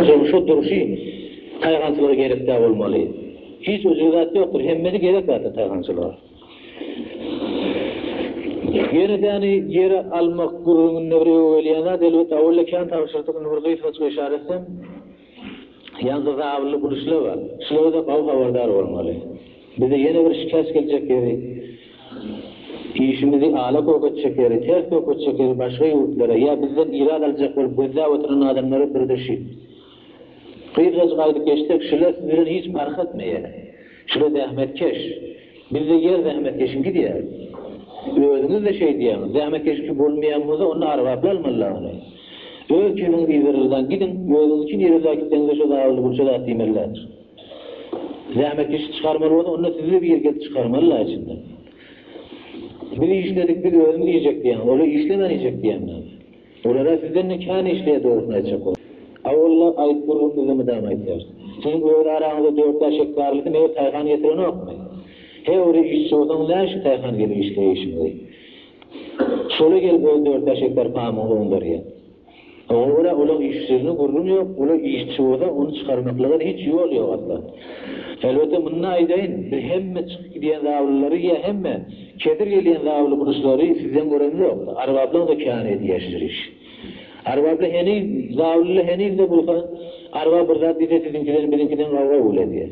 Durşy durşy taýhançylara gerekdä bolmaly. Hiç ujyk zat ýokdur, hemmesi gerek zatdyr taýhançylara. Ýeredäni ýere almak gürrüňinde bir öe gelýän zat, elbetde, awalda kän tabşyrdyk, indi bir gysgaçka yşara etsem, ýanymda zabylly bul işler bar. Şulara-da gawy habardar bolmaly. Bize ýene bir şikes geljek ýeri, işimizi ala kök etjek ýeri, ters böketjek ýeri başga ýurtlara ýa bizden ilat aljak bolup gözläp oturan adamlara birdeşi. Gyzgajyk aýdyp geçsek, şular siz bilen hiç parh etmeýär. Şular zähmetkeş. Bizde ýer zähmetkeşiňki diýýär. Özüňiz-de şeý diýýäňiz. Zähmetkeşiňki bolmaýan bolsa, onda arbaply almaly-la ony. Öz çüýnüňiz Izraeldan gidiň, özüňiz üçin Izraela gitseňiz-de şo zabylly gurça zat diýmeli däldir. Zähmet işi çykarmaly bolsa onda sizi bir gezip çykarmaly la içinden. Biz işledik biz özümiz iýjek diýýäňiz olar işlemän iýjek diýýäňiz. Olara sizden-de kän işleýär dogrusyny aýtjak bolsa. A walla aýt gürrüň bize mydama aýtýar. Siziň öz araňyzda dört bäş gektarlysyny meger Taýhan getirenokmy? He ola işçi bolsaňyz näşin Taýhan gelip işleýär işiňizi. Şola gelip öz dört bäş gektar pamygyňy oňdarýar. Oňa görä ulag işçiligine gürrüň ýok, ulag işçi bolsa ony çykarmaklyga hiç ýol ýok asla. Elbetde muny aýdaýyn, biz hemme çykyp gidýän zablylary ýa hemme kesir gelýän zably guruşlary sizden göremzok, Arbablaň da käni edýäşdir iş. Arbably heniz, zablyly henizde bulsa, Arbab bir zat diýse siziňkiden, biziňkiden gawga gül edýär.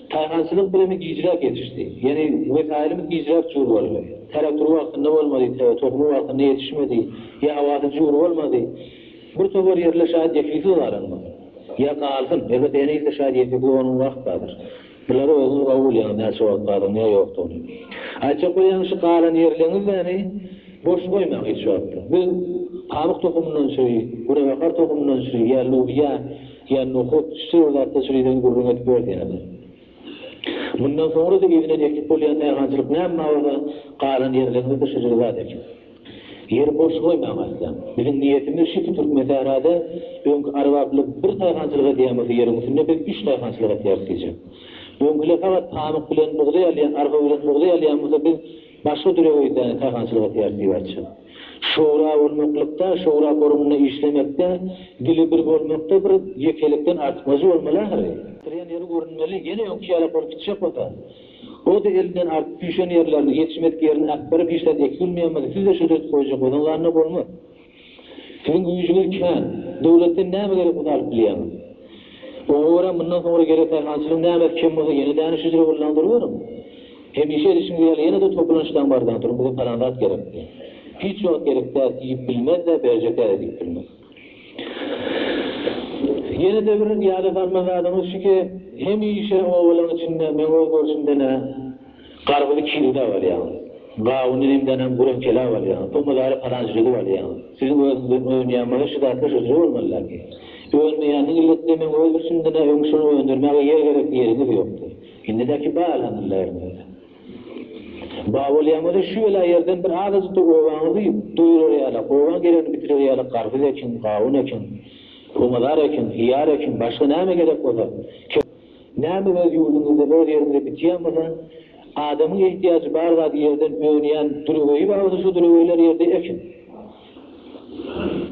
Taýhançylyk birimi gijräk ýetişdi. Ýeri, wesaýlymyz gijräk jur boldy. Trator wagtynda bolmady, tä tohumy wagtynda ýetişmedi, ýa howasy jur bolmady. Bir topar ýerler şaýat ýekilsiz galan boldy. Ýa galsyn, elbetde ene ilde şaýat ýekilsiz bolanymyz wagt bardyr. Bulary özüňiz gowy bilýäňiz, näçe wagt bardygyny ýa ýokdugyny. Aýtjak bolýan şu galan ýerleriňizäni boş goýmaň hiç wagtda. Biz pamyk tohumyndan çüri, günebakar tohumyndan çüri ýa lubiýa, Ýa nohut, şeýle zatlar çüridenini gürrüň edip ber diýerler. Mundan soňra-da yzyna ekip bolýan nähançylyk näme mabaza galan ýerleriňizde şu jygy zat ekiň. Ýeri boş goýmaň asla. Biziň niýetimiz şiki Türkmensährada öňki arbaplar bir daýhançylyk edýän bolsa ýeriň üstünde biz üç daýhançylyk etýäris diýjek. Öňkiler fakat pamyk bilen bugdaý alýan, arpa bilen bugdaý alýan bolsa biz Başga dürewüýse saýhançylyk edýär Sibäçi. Şowra bolmaklykda, şowra forumynda işlemekde, dili bir bolmakda bir ýekelikden artykmajy bolmaly ahyry. Tirän ýeri görünmeli, ýene öňki ýalak bolup gitjek bolsa. O-da elinden artyp süýşen ýerlerini, ýetişmedik ýerini akbaryp işlän Ekgül Myýammady siz-de şöhlet goýjak bolsaňyz anna bolmaz. Siziň güýjüňiz kän. Döwletden näme gerek ony alyp bilýäňiz. Oňa görä mundan soňra gerek sähelçiligiň nämäsi kem bolsa ýene däniş hüjre bolnaň duruberiň. Hemişe edişiňiz ýaly ýene-de topulançlaň bardaň turuň bize palan zat gerek diýiň. Hiç wagt gerek däl diýip bilmez-de berjek-ä-de diýip bilmez. Ýene-de bir ýada salmaly zadyňyz şuki, hemişe obalaň içinde, meň öz görşümden-ä, Garbyzy çigildäp alýaňyz. Gawuny nemdänem güreňçeläp alýaňyz. O mydary palanç düzüp alýaňyz. Siziň özüňizden önýänmyza şu zatlar hödür bolmalydaky. Önmeýäniniň illetine meň öz bir sündine öň şuny öndürmäge ýer gerek diýeriňiz ýokdy. Indidäki ba alanyllaryňyz. Ba bolýaňyza şu bela ýerden bir azajyk-da obaňyzy doýurar ýalak, obaň geregini bitirer ýalak garbyz ekiň, gawun ekiň. Pomidor ekiň, hyýar ekiň, başga näme gerek bolsa, Näme öz ýurduňyzda, öz ýeriňizde bitýän bolsa, adamyň ehtiýajy bar zady ýerden önýän düreweýi bar bolsa şo düreweýler ýerde ekiň.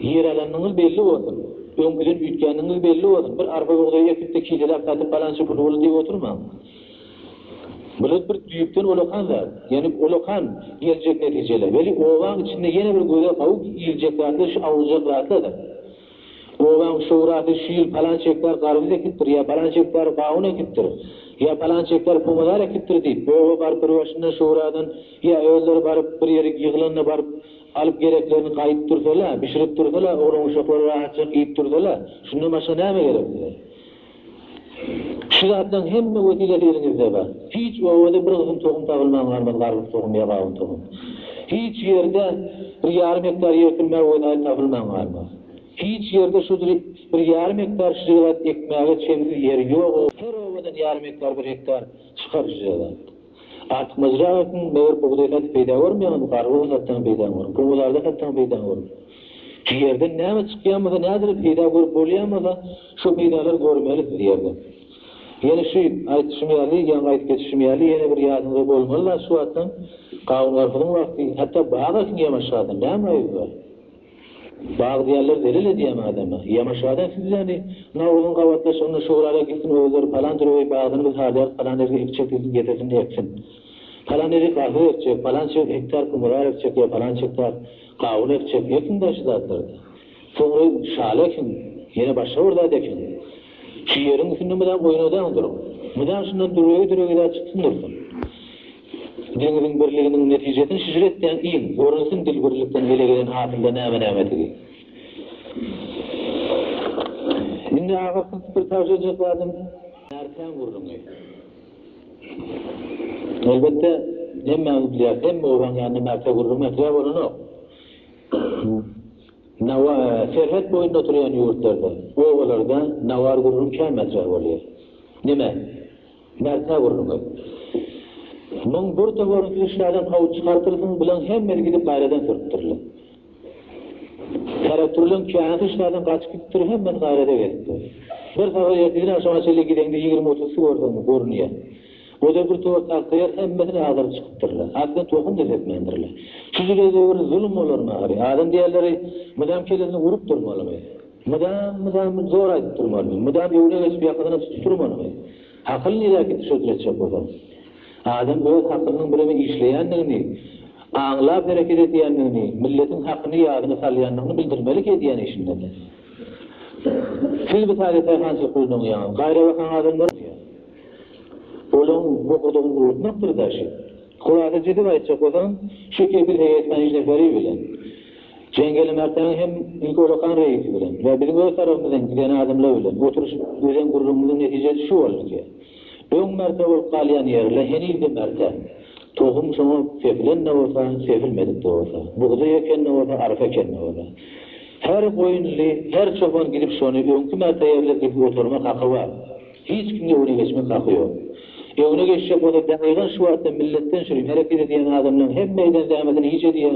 Ýer alanyňyz belli bolsun. Öňküden üýtgänligiňiz belli bolsun. Bir arpa bugdaý ekipde kijeläp satyp galança pul boldy diýip oturmaň. Bular bir düýpden olakan zat. Ýöne olakan geljek netijeler. Weli obaň içinde ýene bir göze howp iljek zatlar şu awujak zatlardyr. Obaň şurasy şu ýyl palanç gektar garbyz ekipdir ýa palanç gektar gawun ekipdir, ýa palanç gektar pomidor ekipdir diýip, oba baryp bir başyndan şuradan ýa özleri baryp bir ýerik ýyglanda baryp alyp gereklerini gaýyp dursalar, bişirip dursalar, oglan-uşaklary rahatjak iýip dursalar, şundan başga näme gerek bize? Şu zatlaň hemme wesillesi eliňizde bar. Hiç obada bir gysym tohum tabylman galmaz garpyz tohum ýa gawun tohum. Hiç ýerde bir ýarym gektar ýer sürmäge wesaýt tapylman galmaz. Hiç ýerde şu bir ýarym gektar şjylat ekmäge çemsiz ýer ýok. Her obadan ýarym gektar bir gektar çykar şjylat. Artyk myjrak ekiň, meger bugdaý satyp peýda görmeýäňmi, garpyz satsaň peýdaň görüň, gowazarda satsaň peýdaň görüň. Ýerden näme çykýanmasa, nädire peýda görüp bolýanmasa, şo peýdalary görmeli siz ýerden. Ýene şu aýdyşym ýaly, ýaňky aýdyp geçişim ýaly, ýene bir ýadyňyzda bolmaly-la şu wagtam gawun-garpyzyň wagty, hatda bag ekiň ýaňaşjadan, näme aýyby bar? Bagtyýarlar zelel edýämi adama. Ýamaşgada siz ýaly Nowruzyň gabatlaşygynda şugurala gitsin özleri palan türewi bagdyny biz harlýarys palan ergi ekjek diýsin getirsin eksin. Palan eri gahyr ekjek, palança hektar kumurar ekjek ýa palança hektar gawun ekjek ekiň da şu zatlardy. Soňra şaly ekiň, ýene başga bir zat ekiň. Şu ýeriň üstünde mydam oýnadaň duruň. Mydam şundan dürewi dürewi zat çyksyn dursun. Deňziň birliginiň netijesini şişir etýän il, görünsin dil birlikden ele gelen hasylda näme-nämetigi. Indi agyr synpykly tabşyrjak zadym Ertän gürrüňi. Elbetde, hemmämiz bilýäris, hemme obaň ýanynda Märtä gürrüň mätäç bolanok. Nawa, serhet boýunda oturýan ýurtlarda, obalarda nawar gürrüň kän mätäç bolýar. Näme? Nätse gurnuňyz. Muň bir toparyny siz işlerden kowup çykartyrsyňyz, bulaň hemmesi gidip gaýradan sürtdüriler. Karakturlaň käsi işlerden gaçyp gitipdir, hemmesi gaýrada gelipdir. Bir sagat ertirden agşama çenli gideňde ýigrimi-otursy görseňiz, görünýär. O-da bir towar tagtaýar, hemmesini agdaryp çykypdyrlar. Aslynda tohum-da sepmändirler. Şu jüle döwür zulum bolarmy ary? Adam diýerleri mydam kellesine urup durmalymy? Mydam mydam zor aýdyp durmalymy, mydam ýüwrek açyp ýakasyna tutup durmalymy? Hakyl niräkit şekil etjek bolsaň? Adam öz hakylynyň birege işleýändigini, aňlap hereket edýändigini, milletiň hakyny ýadyna salýandygyny bildirmelik edýän işinde-de. Siz bu sade taýhançylyk bilen oňýaňyz. Gaýrabakaň adamlar bolýar. Olaň bokurdagyny gurutmakdyr daşy. Hulasa düzüp aýtjak bolsaň, şu kepil heýet Hanyş Neperi bilen, Jengeli Merdan hem ilki Olakan reýis bilen we biziň öz tarapymyzdan giden adamlar bilen oturyşyp düzen gürrüňimiziň netijesi şu boldy ki, öň Märte bolup galýan ýerle heniz-de Märte. Tohum şoňa sepilen-de bolsa, sepilmedik-de bolsa, bugdaý eken-de bolsa, arpa eken-de bolsa, her goýunly, her çopan gidip şony öňki Märte ýerle gidip oturmak haky bar. Hiç kimiň öňüne geçmek haky ýok. Öňüne geçjek bolsa, daýhan şu wagtda milletden çüri hereket edýän adamlaryň hemmeýden zähmetini hiç edýän,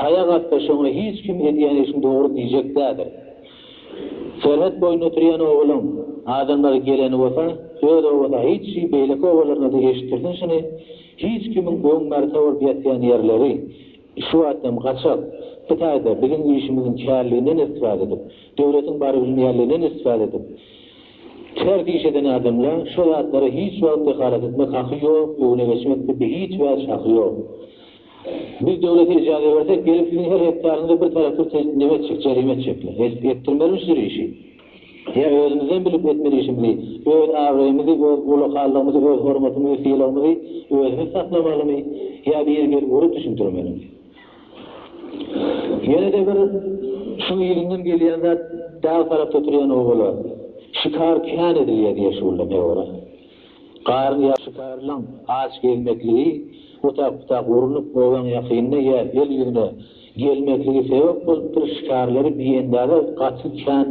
Taýak atda şoňa hiç kim edýän işiň dogry diýjek däldir. Serhet boýunda oturýan obalyň adamlary geleni bolsa öz obasy hiç şi beýleki obalarynada eşitdirsin şuny hiç kimiň öň märte bolup ýatýan ýerleri şu wagtam gaçak bu taýda biziň işimiziň kärliginden istifade edip döwletiň bary bilmeýänliginden istifade edip ters iş eden adamla şo zatlara hiç wagt dehalat etmek haky ýok öňüne geçmekde bi hiç wäç haky ýok. Biz döwlete ijaza bersek, gelip siziň her hektaryňyza bir traktor tehdit neme etjek, jerime etjekler. Etdirmelimi şu işi? Ýa özümizden bilip etmeli işimizi, öz abraýymyzy, öz ulakalygymyzy, öz hormatymyzy, sylagymyzy özümiz saklamalymy, ýa biri gelip urup düşündirmelimi? Ýene-de bir şuň yzyndan gelýän zat, dag tarapda oturýan obalar şikar kän edilýär diýýär şu günler, ne bor-a? Garyn ýaşytarylaň aç gezmekligi, otap-otap urnup, obaň ýakynda ýa el ýüzüne gelmekligi sebäp bolupdyr, şikarlary biendaza gaty kän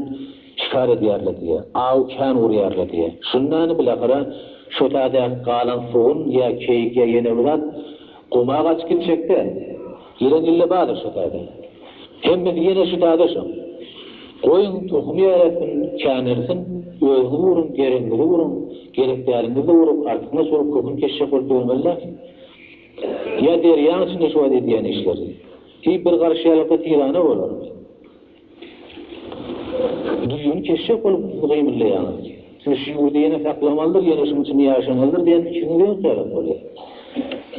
şikar edýärler diýýär. Aw kän urýarlar diýýär. Şundany bilahyra şo täzäki galan sugun ýa keýik ýa ýene bir zat guma gaçyp gitjek-dä. Ýeren ille bardyr şo täze. Hemmesi ýene şu täze şo. Goýuň tohumy ýaratyn, känersin, özüňizi uruň, geregiňizi uruň, gerek däliňizi-de urup, artyňyz urup köküni keşjek bolup ýörmeli näme? Ýa derýaň içinde şu wagt edýän işleri. Diýip bir garyşýarlykda tirana bolarmy? Düýn eşek bolup sizi gymyldaýar. Siz şu ýurdy ýene saklamalydyr, ýene şuň içinde ýaşamalydyr diýen pikiňiz ýok ýaly bolýar.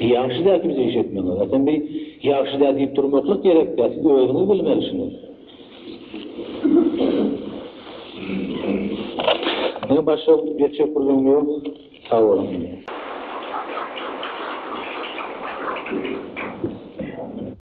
Ýagşy däl siz bu işi etmegiňiz. Aslynda bu ýagşy däl diýip durmaklyk gerek däl. Siz özüňiz bilmeli şuny. Meniň başga etjek bir zymym ýok. Sag boluň.